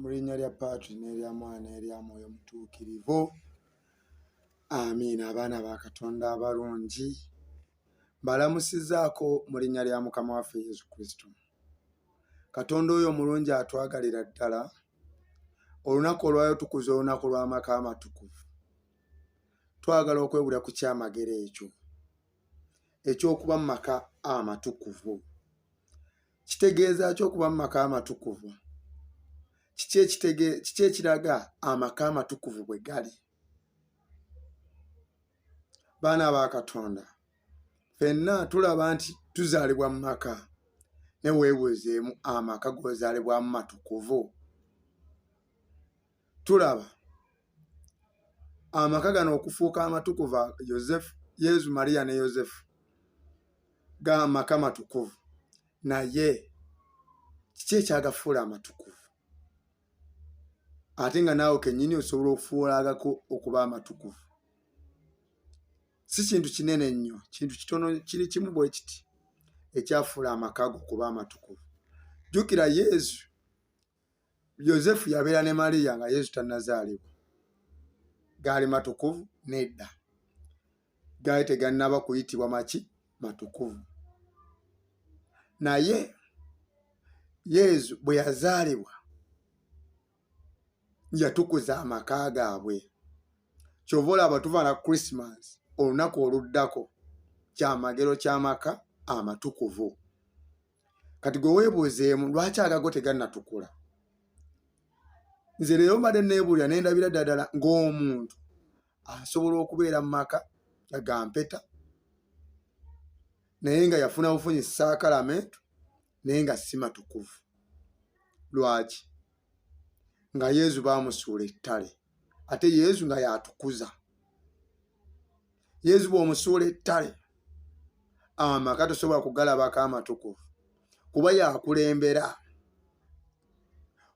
mu linnya lya paatri n'erya mwana erya mwoyo mutuukirivu amiina abaana ba katonda abalungi mbalamusizaako mu linnya lya mukama waffe yesu kristo katonda oyo omulungi atwagalira ddala olunaku olwayo tukuza olunaku lw'amaka amatukuvu twagala okwewula ku kyamagero ekyo eky'okuba mu maka amatukuvu kitegeeza ki okuba mu maka amatukuvu kiki ekitege kiki ekiraga amaka amatukuvu bwe gali baana ba katonda fenna tulaba nti tuzaalibwa mu maka ne weebuuzeemu amaka g'ozaalibwamu matukuvu tulaba amaka gano okufuuka amatukuva yosefu yesu mariya ne yosefu ga maka matukuvu naye kiki ekyagafuula amatukuvu ate nga naawe kenyini osobola okufuulagako okuba amatukuvu si kintu kinene nnyo kintu kitono kiri kimu bwe kiti ekyafuula amakago okuba amatukuvu jjukira yesu yosefu yabeera ne mariya nga yesu tannazaalibwa gaali matukuvu nedda gaali tegannaba kuyitibwa maki matukuvu naye yesu bwe yazaalibwa yatukuza amaka gaabwe kyova olaba tuvaana christmas olunaku oluddako kyamagero kyamaka amatukuvu kati gwe weebuuzeemu lwaki agago tegannatukula nze leero mbadde neebuulira ne ndabira ddadala ng'omuntu asobola okubeera mu maka agampeta naye nga yafuna bufunyi saakalamentu naye nga si matukuvu lwaki nga yezu baamusuula ettale ate yezu nga yatukuza yezu bwomusuula ettale amaka tosobola kugalabako amatukuvu kuba yakulembera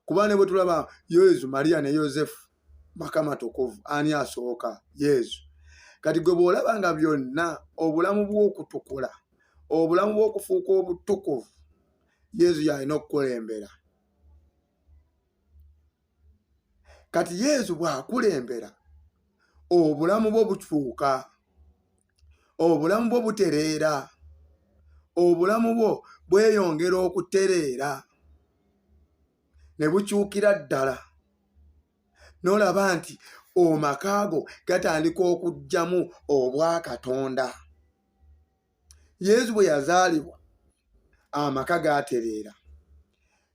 kuba ne bwe tulaba yezu mariya ne yosefu maka matukuvu ani asooka yezu kati gwe bw'olaba nga byonna obulamu bw'okutukula obulamu bw'okufuuka obutukuvu yezu yalina okukulembera kati yesu bwakulembera obulamu bwo bukyuka obulamu bwo butereera obulamu bwo bweyongera okutereera ne bukyukira ddala n'olaba nti omaka go gatandika okugyamu obwakatonda yezu bwe yazaalibwa amaka gaatereera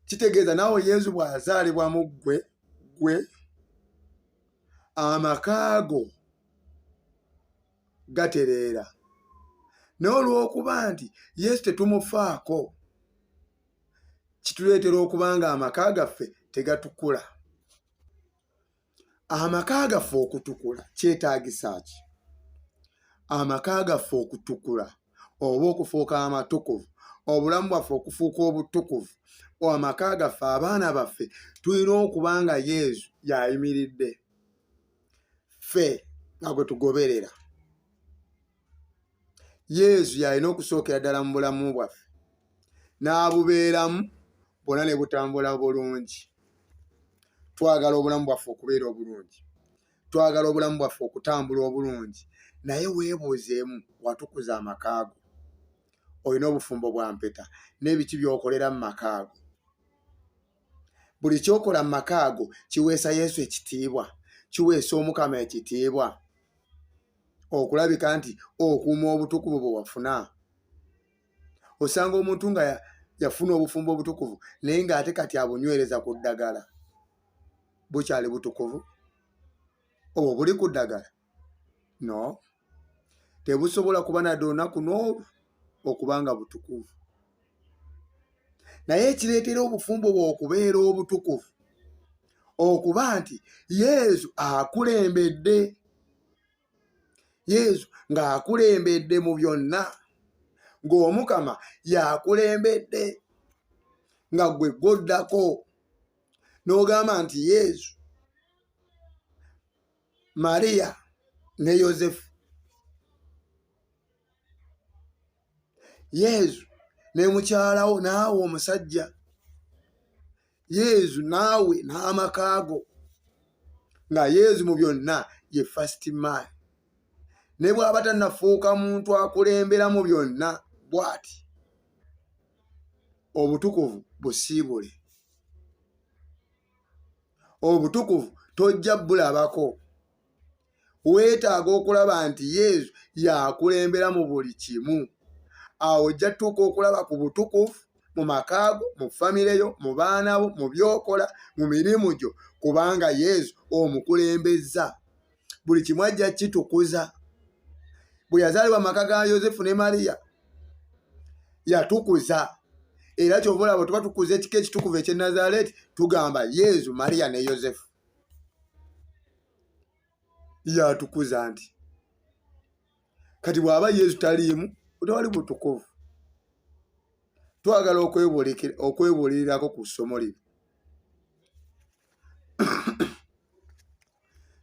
kitegeeza naawe yezu bw'azaalibwa mu ggwe ggwe amaka go gatereera naye olw'okuba nti yesu tetumufaako kituleetera okuba nga amaka gaffe tegatukula amaka gaffe okutukula kyetaagisa ki amaka gaffe okutukula oba okufuuka amatukuvu obulamu bwaffe okufuuka obutukuvu amaka gaffe abaana baffe tulina okuba nga yesu yayimiridde ffe nga gwe tugoberera yesu yalina okusookera ddala mu bulamu bwaffe n'abubeeramu bwona ne butambula bulungi twagala obulamu bwaffe okubeera obulungi twagala obulamu bwaffe okutambula obulungi naye weebuuzeemu watukuza amakaago olina obufumbo bwa mpeta n'ebiki by'okolera mu makaago buli kyokola mu makaago kiweesa yesu ekitiibwa kiweesa omukama ekitiibwa okulabika nti okuuma obutukuvu bwe wafuna osanga omuntu nga yafuna obufumbo obutukuvu naye ng'ate kati abunywereza ku ddagala bukyali butukuvu obwo buli ku ddagala no tebusobola kuba nadde olunaku n'olwo okuba nga butukuvu naye ekireetera obufumbo bwe okubeera obutukuvu okuba nti yesu akulembedde yesu ng'akulembedde mu byonna ng'omukama yakulembedde nga gwe gwoddako n'ogamba nti yesu mariya ne yosefu yezu ne mukyalawo naawe omusajja yezu naawe n'amakaago nga yezu mu byonna ye fast man ne bw'aba tanafuuka muntu akulembera mu byonna bw'ati obutukuvu busiibule obutukuvu tojja bulabako weetaaga okulaba nti yesu yakulembera mu buli kimu awo ojja tuuka okulaba ku butukuvu mu makaago mu famire yo mu baana bo mu byokola mu mirimu gyo kubanga yesu omukulembeza buli kimu ajja kitukuza bwe yazaalibwa maka ga yosefu ne mariya yatukuza era kyova olaba tuba tukuza ekika ekitukuvu ekye nazareti tugamba yesu mariya ne yosefu yatukuza nti kati bw'aba yesu taliimu otewali butukuvu twagala okwebuulirirako ku ssomo lino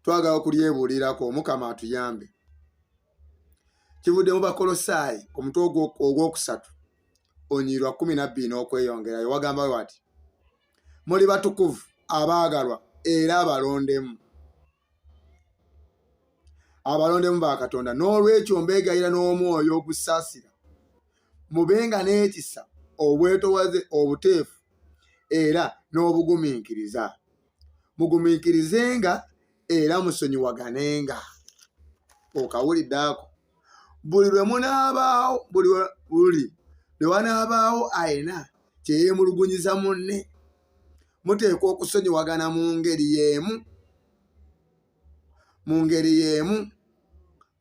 twagala okulyebuulirako omukama atuyambe kivuddemu bakolosaayi omutwe ogwokusatu onyiirwa kumi nabbiri n'okweyongerayo wagamba we ati muli batukuvu abaagalwa era abalondemu abalondemu ba katonda n'olwekyo mbeegayira n'omwoyo ogusaasira mubenga n'ekisa obwetowaze obuteefu era n'obugumiikiriza mugumiikirizenga era musonyiwaganenga okawulidde ako buli lwe munaabaawo buli buli lwe wanaabaawo ayina kyeyeemulugunyiza munne muteekwa okusonyiwagana mu ngeri y'emu mu ngeri y'emu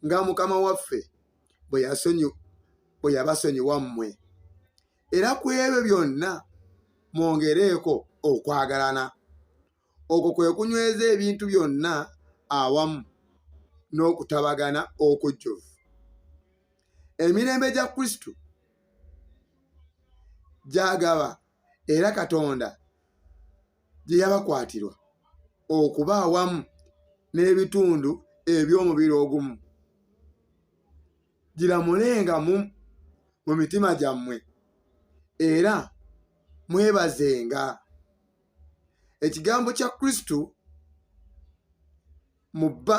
nga mukama waffe bwe yasonyi bwe yabasonyiwa mmwe era ku ebyo byonna mwongereeko okwagalana okwo kwe kunyweza ebintu byonna awamu n'okutabagana okujjuvu emirembe gya kristo gyagaba era katonda gye yabakwatirwa okuba awamu n'ebitundu eby'omubiri ogumu giramulenga mu mu mitima gyammwe era mwebazenga ekigambo kya kristo mu bba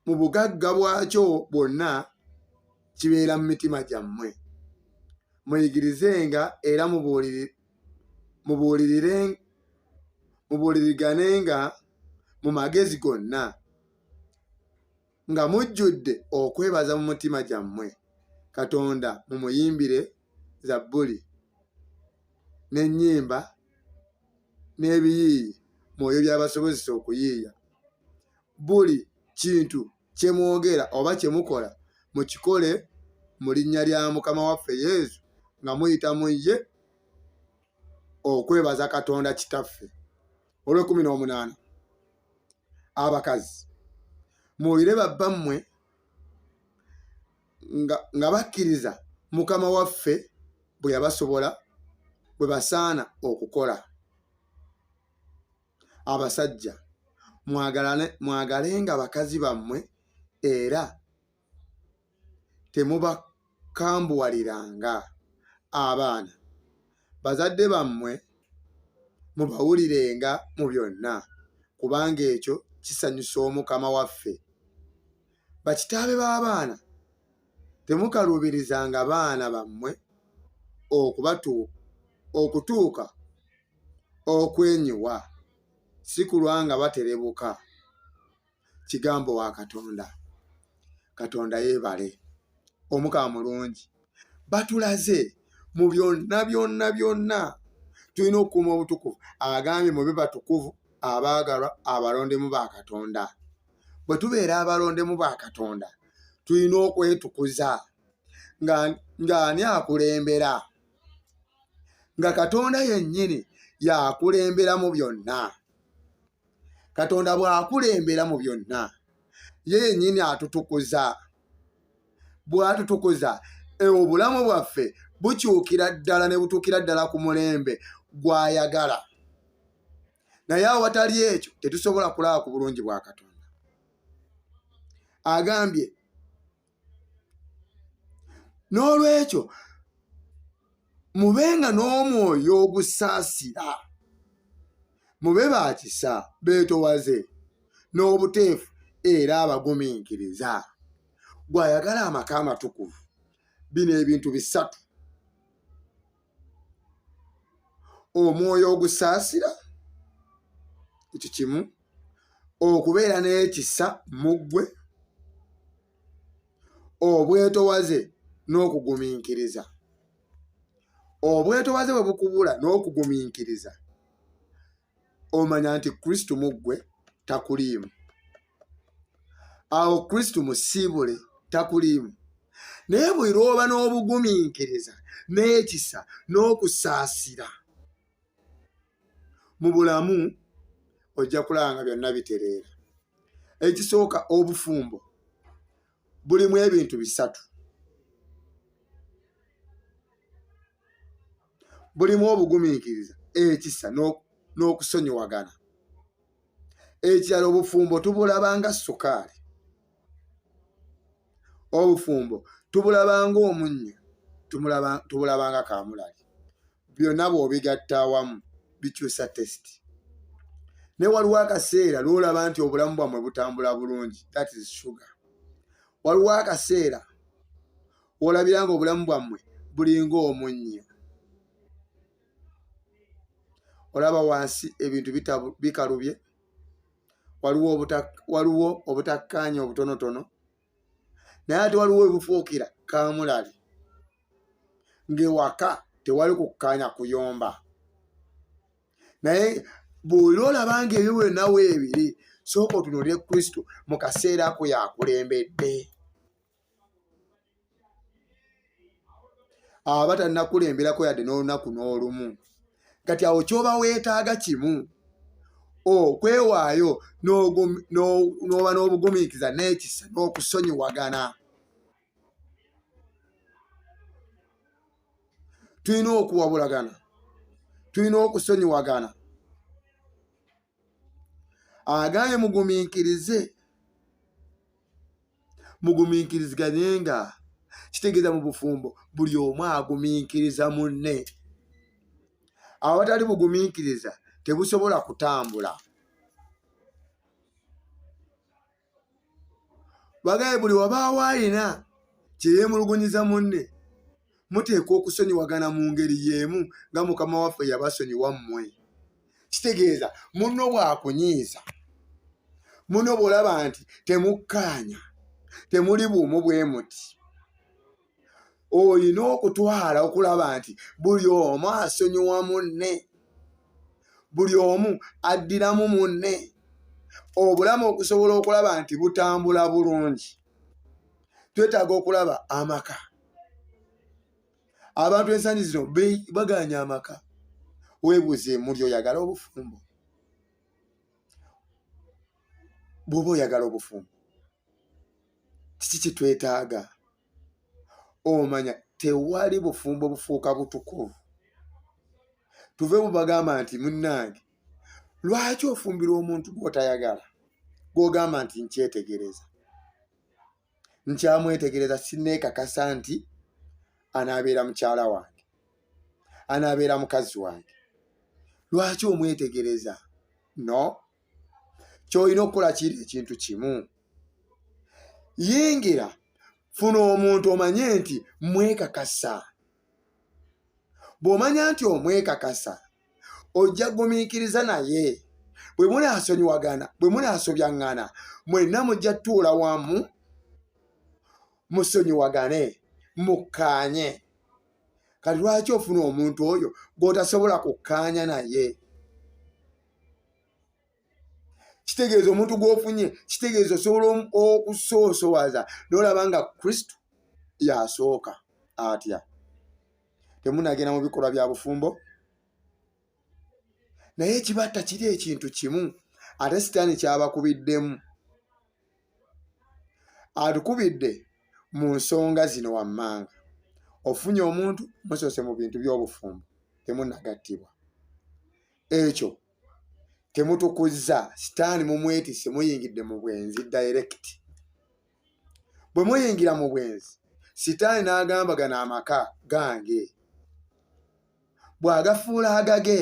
mu bugagga bwakyo bwonna kibeera mu mitima gyammwe muyigirizenga era mubuuliriganenga mu magezi gonna nga mujjudde okwebaza mu mutima gyammwe katonda mumuyimbire zabbuli n'ennyimba n'ebiyiiyi mwoyo byabasobozesa okuyiiya buli kintu kye mwogera oba kye mukola mukikole mu linnya lya mukama waffe yesu nga muyita mu ye okwebaza katonda kitaffe olwekumi n'omunaana abakazi muwulire babbammwe nga bakkiriza mukama waffe bwe yabasobola bwe basaana okukola abasajja mwagalenga bakazi bammwe era temubakambuwaliranga abaana bazadde bammwe mubawulirenga mu byonna kubanga ekyo kisanyusa omukama waffe bakitaabe b'abaana temukaluubirizanga baana bammwe okubatu okutuuka okwenyiwa si kulwa nga baterebuka kigambo wa katonda katonda yebale omukama mulungi batulaze mu byonna byonna byonna tulina okukuuma obutukuvu agambye mube batukuvu abaagalwa abalondemu ba katonda bwe tubeera abalondemu ba katonda tulina okwetukuza ng'ani akulembera nga katonda yennyini yakulemberamu byonna katonda bw'akulembera mu byonna ye yennyini atutukuza bw'atutukuza e, obulamu bwaffe bukyukira ddala ne butuukira ddala ku mulembe gw'ayagala naye awatali ekyo tetusobola kulaba ku bulungi bwa katonda agambye n'olwekyo mubenga n'omwoyo ogusaasira mube ba kisa beetowaze n'obuteefu era abagumiikiriza gw'ayagala amaka amatukuvu bino ebintu bisatu omwoyo ogusaasira ekyo kimu okubeera n'ekisa mu ggwe obwetowaze n'okugumiikiriza obwetowaze bwe bukubula n'okugumiikiriza omanya nti kristo mu ggwe takuliimu awo kristo musiibule takuliimu naye buli lwoba n'obugumiikiriza n'ekisa n'okusaasira mu bulamu ojja kulaba nga byonna bitereera ekisooka obufumbo bulimu ebintu bisatu bulimu obugumiikiriza ekisa n'okusonyiwagana ekirala obufumbo tubulabanga sukaali obufumbo tubulabanga omunnyo tubulabanga kamulali byonna bw'obigatta awamu bikyusa tesiti naye waliwo akaseera lwolaba nti obulamu bwammwe butambula bulungi that is sugar waliwo akaseera olabira nga obulamu bwammwe bulinga omunnyo olaba wansi ebintu bikalubye waliwo obutakkaanya obutonotono naye ate waliwo webufuukira kamulali ng'ewaka tewali kukkaanya kuyomba naye buli olaba nga ebyo bwenawo ebiri sooka otunulire kristo mu kaseera ako yakulembedde aba tanakulemberako yadde n'olunaku n'olumu kati awo kyoba weetaaga kimu okwewaayo n'oba n'obugumiikiza n'ekisa n'okusonyiwagana tulina okuwabulagana tulina okusonyiwagana agambye mugumiikirize mugumiikiriziganye nga kitegeeza mu bufumbo buli omu agumiikiriza munne awatali bugumiikiriza tebusobola kutambula bagaye buli wabaawo alina kyeyemulugunyiza munne muteekwa okusonyiwagana mu ngeri y'emu nga mukama waffe yabasonyiwa mmwe kitegeeza munno bwakunyiiza muno bwolaba nti temukkaanya temuli buumu bwe muti olina okutwala okulaba nti buli omu asonyiwa munne buli omu addiramu munne obulamu okusobola okulaba nti butambula bulungi twetaaga okulaba amaka abantu ensangi zino baganya amaka webuuze muli oyagala obufumbo bwoba oyagala obufumbo kiki kitwetaaga omanya tewali bufumbo bufuuka butukuvu tuve mu bagamba nti munnange lwaki ofumbirwa omuntu gwotayagala gwogamba nti nkyetegereza nkyamwetegereza sineekakasa nti anaabeera mukyala wange anaabeera mukazi wange lwaki omwetegereza no kyolina okukola kiri ekintu kimu yingira funa omuntu omanye nti mwekakasa bw'omanya nti omwekakasa ojja gumiikiriza naye bwe munaasonyiwagana bwe munaasobyaŋŋana mwenna mujja tuula wamu musonyiwagane mukkaanye kati lwaki ofuna omuntu oyo gw'otasobola kukkaanya naye kitegeeza omuntu gw'ofunye kitegeeza osobola okusoosowaza nolaba nga kristo yasooka atya temunagenda mu bikolwa bya bufumbo naye ekibatta kiri ekintu kimu ate sitaani kyabakubiddemu atukubidde mu nsonga zino wammanga ofunye omuntu musoose mu bintu by'obufumbo temunagattibwa ekyo temutukuzza sitaani mumwetise muyingidde mu bwenzi direct bwe muyingira mu bwenzi sitaani n'agamba gano amaka gange bw'agafuula agage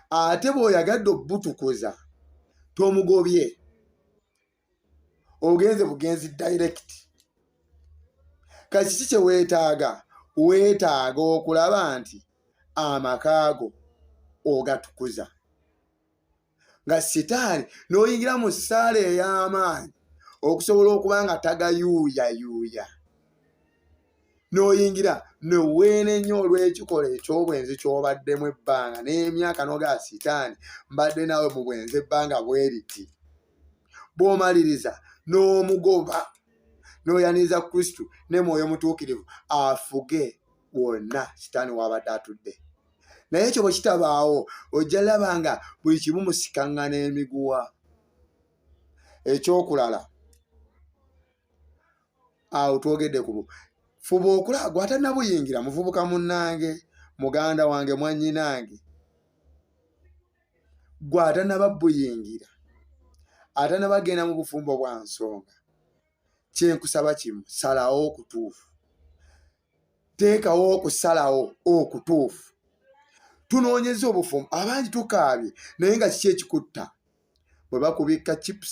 ate bw'oyagadde obutukuza tomugobye ogenze bugenzi direct kakiki kye weetaaga weetaaga okulaba nti amakaago ogatukuza nga sitaani n'oyingira mu ssaala ey'amaanyi okusobola okuba nga tagayuuyayuuya n'oyingira neweenenya olw'ekikola eky'obwenzi ky'obaddemu ebbanga n'emyaka nogaa sitaani mbadde naawe mu bwenzi ebbanga bweriti bwomaliriza n'omugoba n'oyaniriza kristu ne mwoyo mutuukirivu afuge wonna sitaani waabadde atudde naye ekyo bwe kitabaawo ojja laba nga buli kimu musikaŋŋana emiguwa ekyokulala awo twogedde ku fuba okula gwatanabuyingira muvubuka munnange muganda wange mwanyinange gwe atanaba buyingira atanaba genda mu bufumbo bwa nsonga kyenkusaba kimu salawo okutuufu teekawo okusalawo okutuufu tunoonyeza obufumbo abangi tukaabye naye nga kiki ekikutta bwe bakubikka chips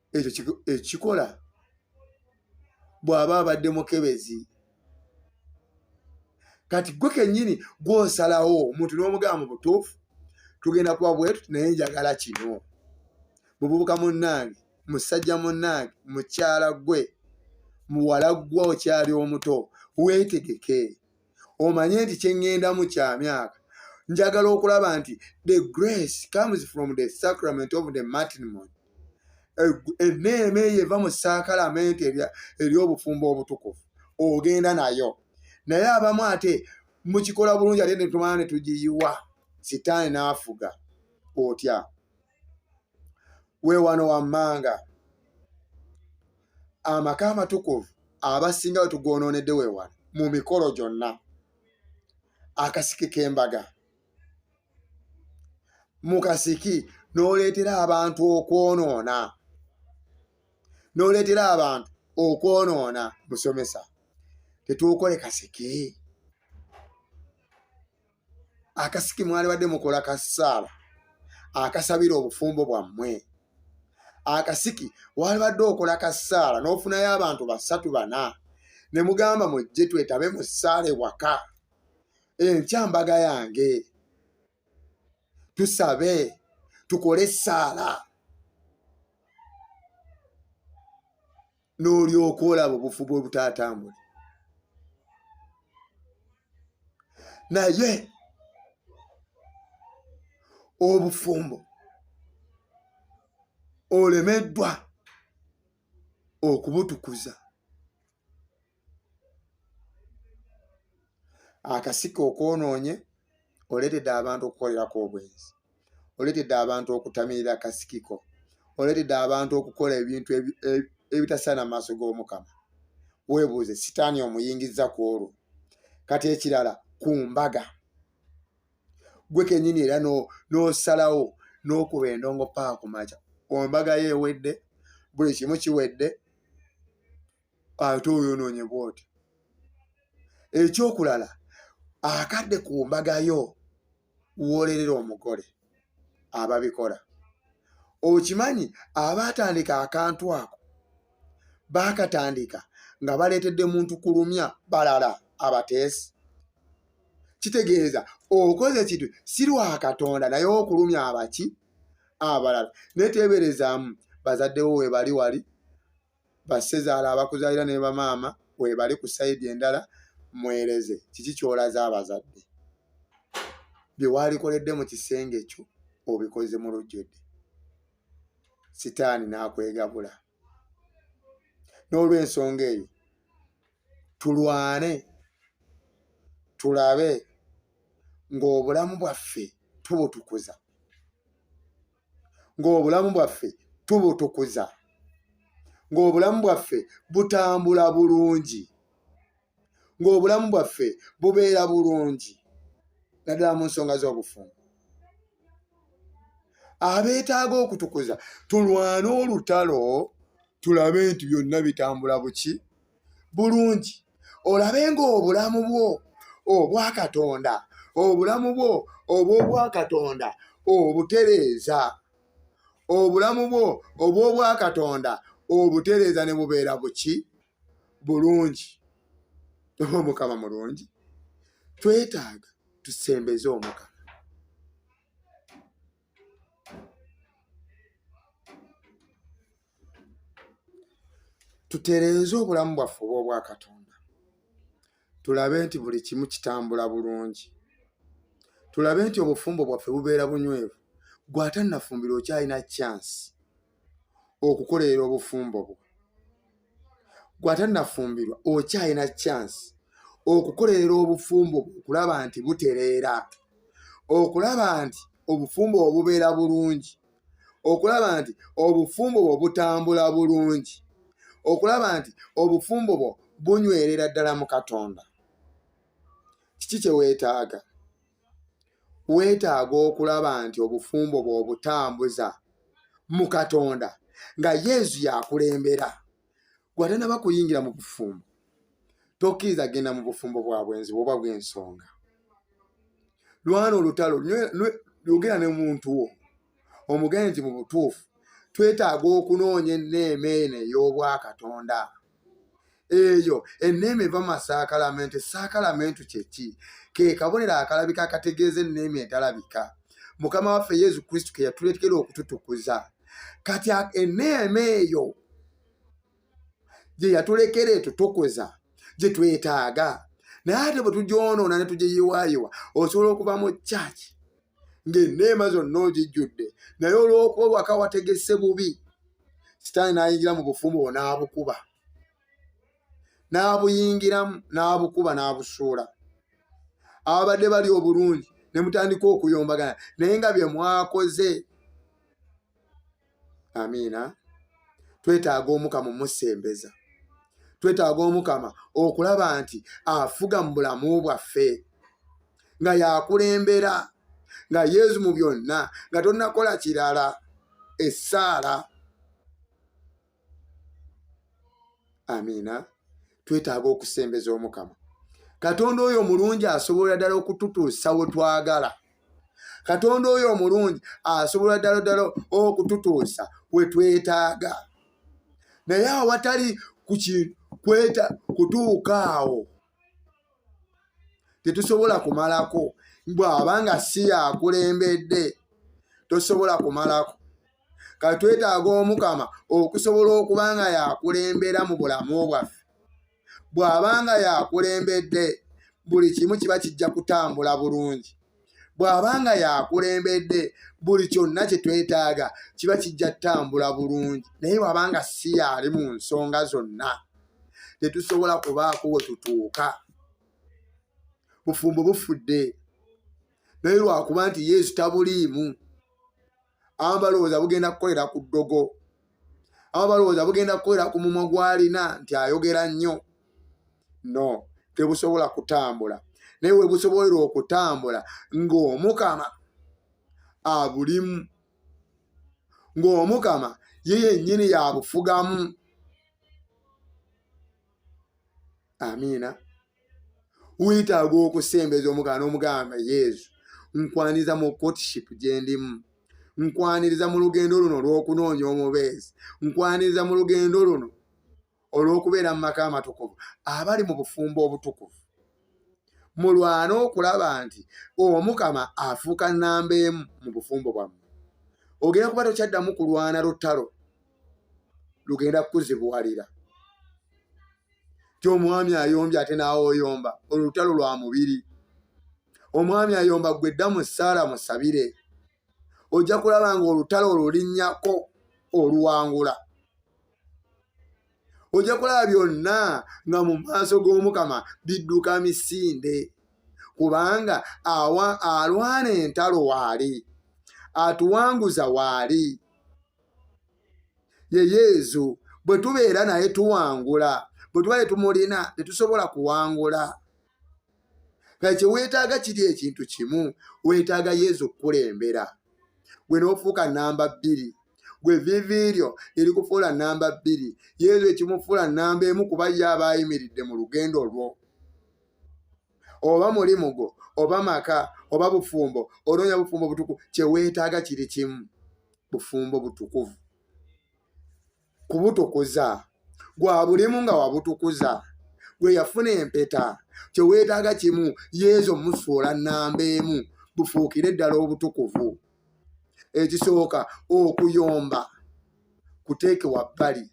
ekyo ekikola bw'aba abadde mukebezi kati gwe kennyini gw'osalawo omuntu n'omugaba mu butuufu tugenda kuba bwetu naye njagala kino mububuka munnange musajja munnange mukyala gwe muwala ggwa okyali omuto weetegeke omanye nti kyeŋŋendamu kya myaka njagala okulaba nti the grace comes from the sacrament of the matrimony enneema eyo eva mu sakalamenti ery'obufumbo obutukuvu ogenda nayo naye abamu ate mukikola bulungi ate netumana netugiyiwa sitaani n'afuga otya we wano wammanga amaka amatukuvu abasinga we tugwonoonedde we wano mu mikolo gyonna akasiki k'embaga mu kasiki n'oleetera abantu okwonoona n'oleetera abantu okwonoona musomesa tetuukole kasiki akasiki mwalibadde mukola ka ssaala akasabira obufumbo bwammwe akasiki walibadde okola ka ssaala n'ofunayo abantu basatu bana ne mugamba mujje twetabe mu ssaala ewaka enkya mbaga yange tusabe tukole essaala n'olyoka olaba obufu bwe butaatambule naye obufumbo olemeddwa okubutukuza akasika okwonoonye oleetedde abantu okukolerako obwenzi oletedde abantu okutamirira kasikiko oletedde abantu okukola ebintu ebitasaana mu maaso g'omukama weebuuze sitaani omuyingizza ku olwo kati ekirala ku mbaga gwe kenyini era n'osalawo n'okuba endongo paa ku makya ombaga yo ewedde buli kimu kiwedde ate oyonoonye bwoti ekyokulala akadde ku mbaga yo wolerera omugole ababikola okimanyi abaatandika akantu ako baakatandika nga baleetedde muntu kulumya balala abateesi kitegeeza okoze kintu si lwa katonda naye okulumya abaki abalala naye teeberezaamu bazaddewo webali wali bassezaala abakuzaalira ne bamaama webali ku sayidi endala mwereze kiki kyolaze abazadde byewalikoledde mu kisenge kyo obikoze mu lujjudde sitaani n'akwegabula n'olwensonga eyo tulwane tulabe ng'obulamu bwaffe tubutukuza ng'obulamu bwaffe tubutukuza ng'obulamu bwaffe butambula bulungi ng'obulamu bwaffe bubeera bulungi naddala mu nsonga z'obufumbo abeetaaga okutukuza tulwane olutalo tulabe nti byonna bitambula buki bulungi olabe ng'obulamu bwo obwa katonda obulamu bwo obw'obwa katonda obutereeza obulamu bwo obw'obwa katonda obutereeza ne bubeera buki bulungi oba omukama mulungi twetaaga tusembeze omukama tutereeze obulamu bwaffe oba obwa katonda tulabe nti buli kimu kitambula bulungi tulabe nti obufumbo bwaffe bubeera bunywevu gwe atannafumbira okyalina chance okukolerera obufumbo bwo gwatanafumbirwa okyalina chance okukolerera obufumbo bwo okulaba nti butereera okulaba nti obufumbo bwo bubeera bulungi okulaba nti obufumbo bwo butambula bulungi okulaba nti obufumbo bwo bunywerera ddala mu katonda kiki kyeweetaaga weetaaga okulaba nti obufumbo bw'obutambuza mu katonda nga yezu yakulembera gwatanaba kuyingira mu bufumbo tokkiriza genda mu bufumbo bwa bwenzi bwoba bw'ensonga lwana olutalo yogera ne muntu wo omugenzi mu butuufu twetaaga okunoonya enneema eno ey'obwakatonda eyo enneema eva masaakalamento esaakalamento kyeki ke kabonero akalabika akategeeza enneema etalabika mukama waffe yesu kristo ke yatuletekera okututukuza kati enneema eyo gye yatulekera eto tukuza gye twetaaga naye ate bwe tugyonoona ne tugyeyiwaayiwa osobola okuba mu kyaki ng'enneema zonna ogijjudde naye olw'okuba waka wategese bubi sitaani n'ayingira mu bufumbo bwo n'abukuba n'abuyingiramu n'abukuba n'abusuula ababadde bali obulungi ne mutandika okuyombagana naye nga bye mwakoze amiina twetaaga omukama omusembeza twetaaga omukama okulaba nti afuga mu bulamu bwaffe nga yakulembera nga yezu mu byonna nga tonakola kirala essaala amiina twetaaga okusembeza omukama katonda oyo omulungi asobola ddala okututuusa we twagala katonda oyo omulungi asobola ddala ddala okututuusa we twetaaga naye awatali kukikweta kutuuka awo tetusobola kumalako bw'aba nga si yakulembedde tosobola kumalako ka twetaaga omukama okusobola okuba nga yakulembera mu bulamu bwaffe bw'aba nga yakulembedde buli kimu kiba kijja kutambula bulungi bw'aba nga yakulembedde buli kyonna kye twetaaga kiba kijja kutambula bulungi naye bw'aba nga si yaali mu nsonga zonna tetusobola kubaako we tutuuka bufumbo bufudde naye lwakuba nti yesu tabuliimu abamu balowooza bugenda kukolera ku ddogo abamu balowooza bugenda kukolera ku mumwa gwalina nti ayogera nnyo no tebusobola kutambula naye webusobolera okutambula ng'omukama abulimu ng'omukama ye yennyini yabufugamu amiina wetaaga okusembeza omugana omugamba yesu nkwaniriza mu courtship gyendimu nkwaniriza mu lugendo luno olw'okunoonya omubeezi nkwaniriza mu lugendo luno olw'okubeera mu maka amatukuvu abali mu bufumbo obutukuvu mulwane okulaba nti omukama afuuka nnamba emu mu bufumbo bwammwe ogenda kuba tokyaddamu kulwana lutalo lugenda kukuzibuwalira ti omwami ayombye ate naawe oyomba olwo lutalo lwa mubiri omwami ayomba gwe dda mu ssaala musabire ojja kulaba nga olutalo olulinnyako oluwangula ojja kulaba byonna nga mu maaso g'omukama bidduka misinde kubanga alwana entalo waali atuwanguza waali ye yezu bwe tubeera naye tuwangula bwe tuba tetumulina tetusobola kuwangula kale kyeweetaaga kiri ekintu kimu weetaaga yezu okukulembera gwe n'ofuuka namba bbiri gwe vivi lyo erikufuula namba bbiri yeezo ekimufuula namba emu kuba ye aba ayimiridde mu lugendo lwo oba mulimu gwo oba maka oba bufumbo onoonya bufumbo butukuvu kyeweetaaga kiri kimu bufumbo butukuvu kubutukuza gwa bulimu nga wabutukuza gwe yafuna empeta kyeweetaaga kimu yeezo musuula nnamba emu bufuukire ddala obutukuvu ekisooka okuyomba kuteeke wabbali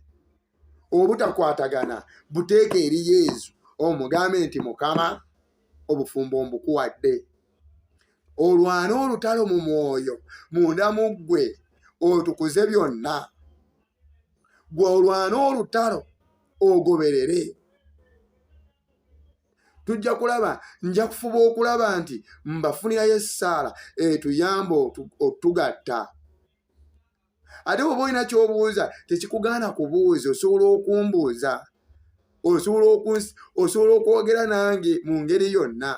obutakwatagana buteeka eri yezu omugambe nti mukama obufumbo mbukuwadde olwane olutalo mu mwoyo munda mu ggwe otukuze byonna gwe olwane olutalo ogoberere tujja kulaba nja kufuba okulaba nti mbafunirayo essaala etuyamba otugatta ate bwoba olina kyobuuza tekikugaana kubuuza osobola okumbuuza osobola okwogera nange mu ngeri yonna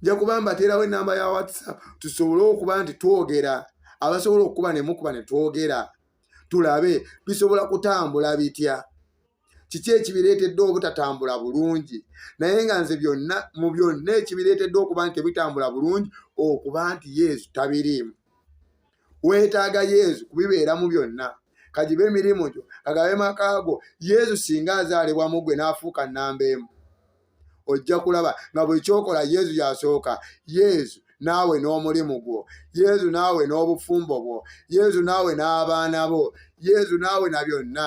nja kuba mbateerawo enamba ya whatsapp tusobole okuba nti twogera abasobola okukuba nemukuba netwogera tulabe bisobola kutambula bitya kiki ekibireetedde obutatambula bulungi naye nga nze byonna mu byonna ekibireetedde okuba nti tebitambula bulungi okuba nti yesu tabiriimu weetaaga yesu kubibeeramu byonna kagibe emirimu gyo kagabe maka go yesu singa azaalibwamu gwe n'afuuka nnamba emu ojja kulaba nga buli kyokola yesu yasooka yesu naawe n'omulimu gwo yesu naawe n'obufumbo bwo yesu naawe n'abaana bo yesu naawe na byonna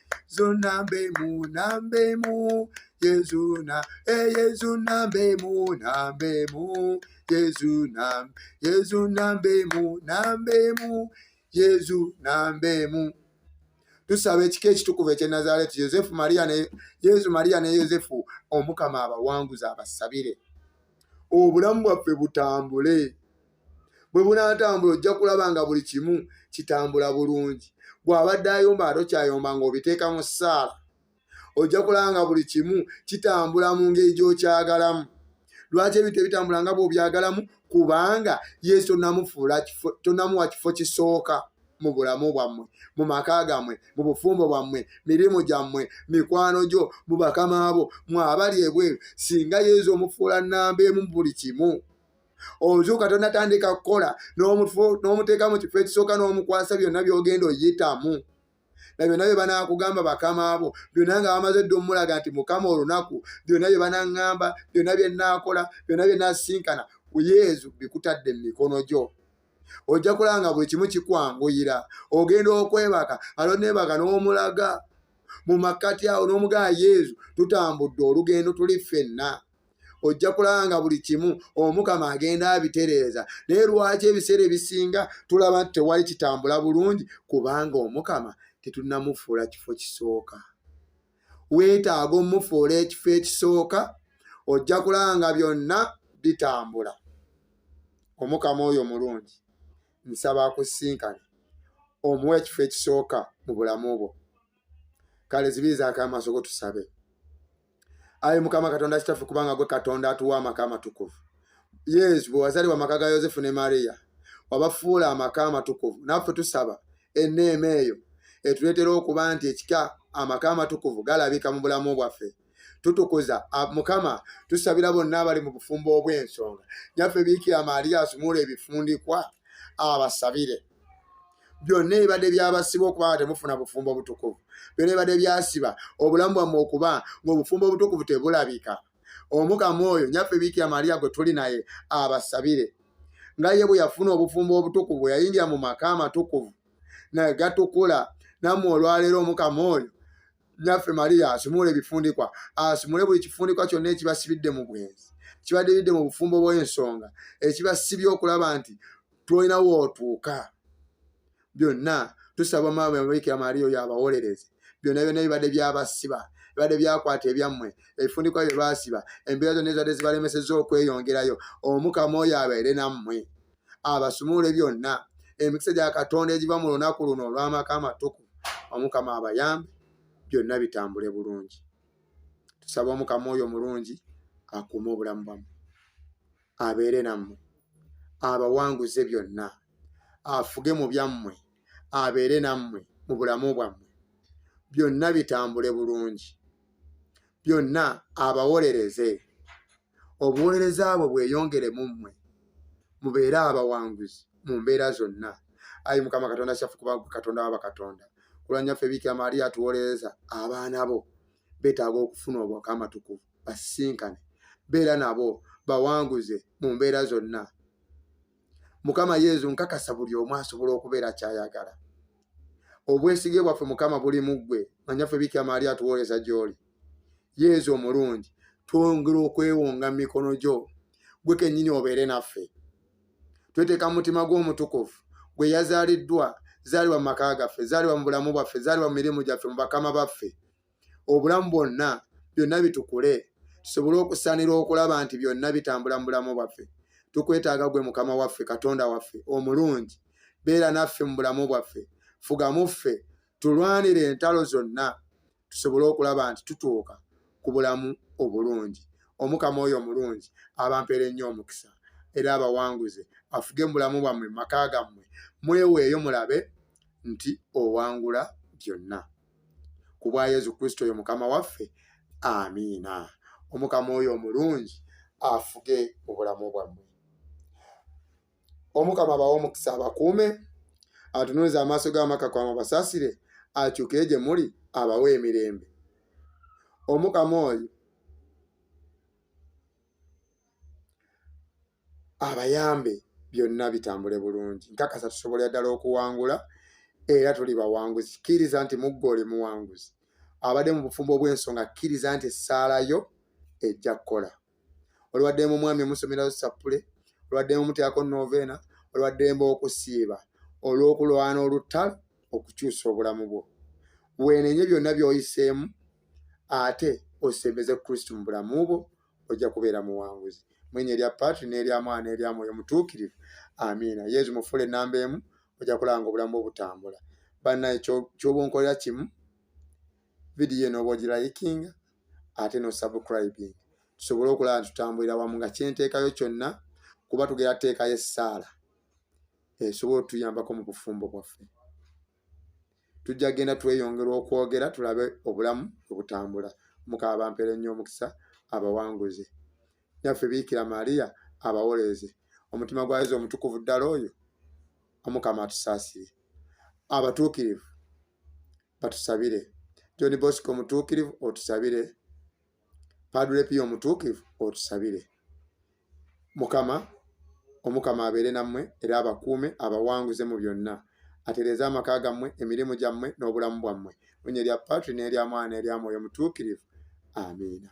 Yesu nambe mu nambe mu Yesu na eh Yesu nambe mu nambe mu Yesu na Yesu nambe mu nambe mu Yesu nambe mu tusaba ekika ekitukuvu ekye Nazareti Yosefu Maria ne Yesu Maria ne Yosefu omukama abawanguza abasabire obulamu bwaffe butambule bwe bunaatambula ojja kulaba nga buli kimu kitambula bulungi bw'abadde ayomba ate okyayomba ng'obiteeka mu ssaala ojja kulaba nga buli kimu kitambula mu ngeri gy'okyagalamu lwaki ebintu ebitambula nga bw'obyagalamu kubanga yesu tonamufuula tonamuwa kifo kisooka mu bulamu bwammwe mu maka gammwe mu bufumbo bwammwe mirimu gyammwe mikwano gyo mu bakama bo mwabali ebweru singa yesu omufuula nnamba emu mu buli kimu ozuuka tonatandika kukola n'omuteeka mu kifo ekisooka n'omukwasa byonna byogenda oyitamu na byonna bye banaakugamba bakama abo byonna nga bamaze dda omulaga nti mukama olunaku byonna bye banaŋŋamba byonna bye nnaakola byonna bye nasinkana ku yezu bikutadde mu mikono gyo ojja kulaba nga buli kimu kikwanguyira ogenda okwebaka alo neebaka n'omulaga mu makkati awo n'omugaa yezu tutambudde olugendo tuli ffenna ojja kulaba nga buli kimu omukama agenda abitereeza naye lwaki ebiseera ebisinga tulaba nti tewali kitambula bulungi kubanga omukama tetunamufuula kifo kisooka weetaaga omufuula ekifo ekisooka ojja kulaba nga byonna bitambula omukama oyo mulungi nsaba akusinkane omuwa ekifo ekisooka mu bulamu bwo kale zibiizaako amaaso go tusabe ayi mukama katonda kitaffe kubanga gwe katonda atuwa amaka amatukuvu yesu bwe wazalibwa amaka ga yosefu ne mariya wabafuula amaka amatukuvu naffe tusaba enneema eyo etuleetera okuba nti ekika amaka amatukuvu galabika mu bulamu bwaffe tutukuza mukama tusabira bonna abali mu bufumbo obw'ensonga nyaffe biikira maaliya asumula ebifundikwa abasabire byonna ebibadde byabasiba okuba nga temufuna bufumbo obutukuvu byonna ebibadde byasiba obulamu bwammwe okuba ng'obufumbo obutukuvu tebulabika omukama oyo nyaffe biikira maria gwe tuli naye abasabire nga ye bwe yafuna obufumbo obutukuvu yayingira mu maka amatukuvu naye gatukula nammwe olwaleero omukama oyo naffe mariya asumula ebifundikwa asumule buli kifundikwa kyonna ekibasibidde mu bwenzi kibadiridde mu bufumbo bw'ensonga ekibasibye okulaba nti tulina wootuuka byonna tusaba maama yamabikira mariya oyo abawolereze byonna byonna bibadde byabasiba bibadde byakwata ebyammwe ebifundikwa bye baasiba embeera zonna ezibadde zibalemeseza okweyongerayo omukama oyo abeere nammwe abasumule byonna emikisa gya katonda egiva mu lunaku luno olw'amaka amatuku omukama abayambe byonna bitambule bulungi tusaba omukama oyo omulungi akuume obulamu bwammwe abeere nammwe abawanguze byonna afuge mu byammwe abeere nammwe mu bulamu bwammwe byonna bitambule bulungi byonna abawolereze obuweereza bwe bweyongere mu mmwe mubeere abawanguzi mu mbeera zonna ayi mukama katonda kyaffe kuba katonda wa bakatonda kulwanyaffe biikira maria atuwolereza abaana bo betaaga okufuna obwaka amatukuvu basisinkane beera nabo bawanguze mu mbeera zonna mukama yezu nkakasa buli omu asobola okubeera kyayagala obwesige bwaffe mukama buli muggwe manyaffe bikira maali atuwooleza gyoli yezu omulungi twongera okwewonga mu mikono gyo gwe kennyini obeere naffe tweteeka mu mutima gw'omutukuvu gwe yazaaliddwa zaalibwa mu maka gaffe zaalibwa mu bulamu bwaffe zaalibwa mu mirimu gyaffe mu bakama baffe obulamu bwonna byonna bitukule tusobole okusanira okulaba nti byonna bitambula mu bulamu bwaffe tukwetaaga gwe mukama waffe katonda waffe omulungi beera naffe mu bulamu bwaffe fugamu ffe tulwanire entalo zonna tusobole okulaba nti tutuuka ku bulamu obulungi omukama oyo omulungi abampeera ennyo omukisa era abawanguze afuge mu bulamu bwammwe mu maka gammwe mweweeyo mulabe nti owangula byonna ku bwa yesu kristo oyo mukama waffe amiina omukama oyo omulungi afuge mu bulamu bwammwe omukama abawa omukisa abakuume atunuliza amaaso g'amaka kwama basasire akyukire gye muli abawa emirembe omukama oyo abayambe byonna bitambule bulungi nkakasa tusobolera ddala okuwangula era tuli bawanguzi kkiriza nti muggwe oli muwanguzi abadde mu bufumbo obw'ensonga kkiriza nti essaala yo ejja kukola olwaddemu omwami omusomerayo sappule olwaddemu omuteako noveena olwaddemba okusiiba olw'okulwana olutalo okukyusa obulamu bwo weenenye byonna by'oyiseemu ate osembeze kristo mu bulamu bwo ojja kubeera muwanguzi mwenya erya patri n'erya mwana erya mwoyo mutuukirivu amiina yesu mufuula enamba emu ojja kulanga obulamu obutambula bannaye kyoba onkolera kimu vidiyo enooba ogirayikinga ate nosubcribing tusobole okulaba nti tutambulira wamu nga kyenteekayo kyonna kuba tugera teekayo essaala esobola otuyambako mu bufumbo bwaffe tujja genda tweyongera okwogera tulabe obulamu obutambula mukaba bampere nnyo omukisa abawanguze nyaffe biikira maria abawoleeze omutima gwa yesu omutukuvu ddala oyo omukama atusaasire abatuukirivu batusabire john bosco omutuukirivu otusabire padre pio omutuukivu otusabire mukama omukama abeere nammwe era abakuume abawanguze mu byonna atereeze amaka gammwe emirimu gyammwe n'obulamu bwammwe onye erya patri n'erya mwana erya mwoyo omutuukirivu amiina